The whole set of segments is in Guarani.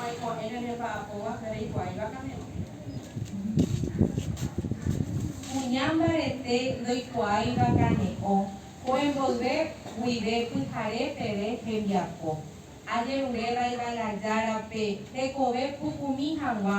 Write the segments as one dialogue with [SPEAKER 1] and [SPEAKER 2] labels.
[SPEAKER 1] Oĩko'ẽ ne remba'apo guapy reikuaái vakane'õ. Kuña mbarete ndoikuaái vakane'õ, ko'ẽ mboyve guive pyhare peve hembiapo. Ajerure vaiva'erã Járape, tekove pukumi haguã.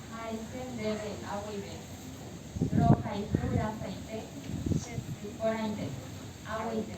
[SPEAKER 1] Ha'ete ndéve ha guive, rohayhu rasaite che sy porãite. Ha guive.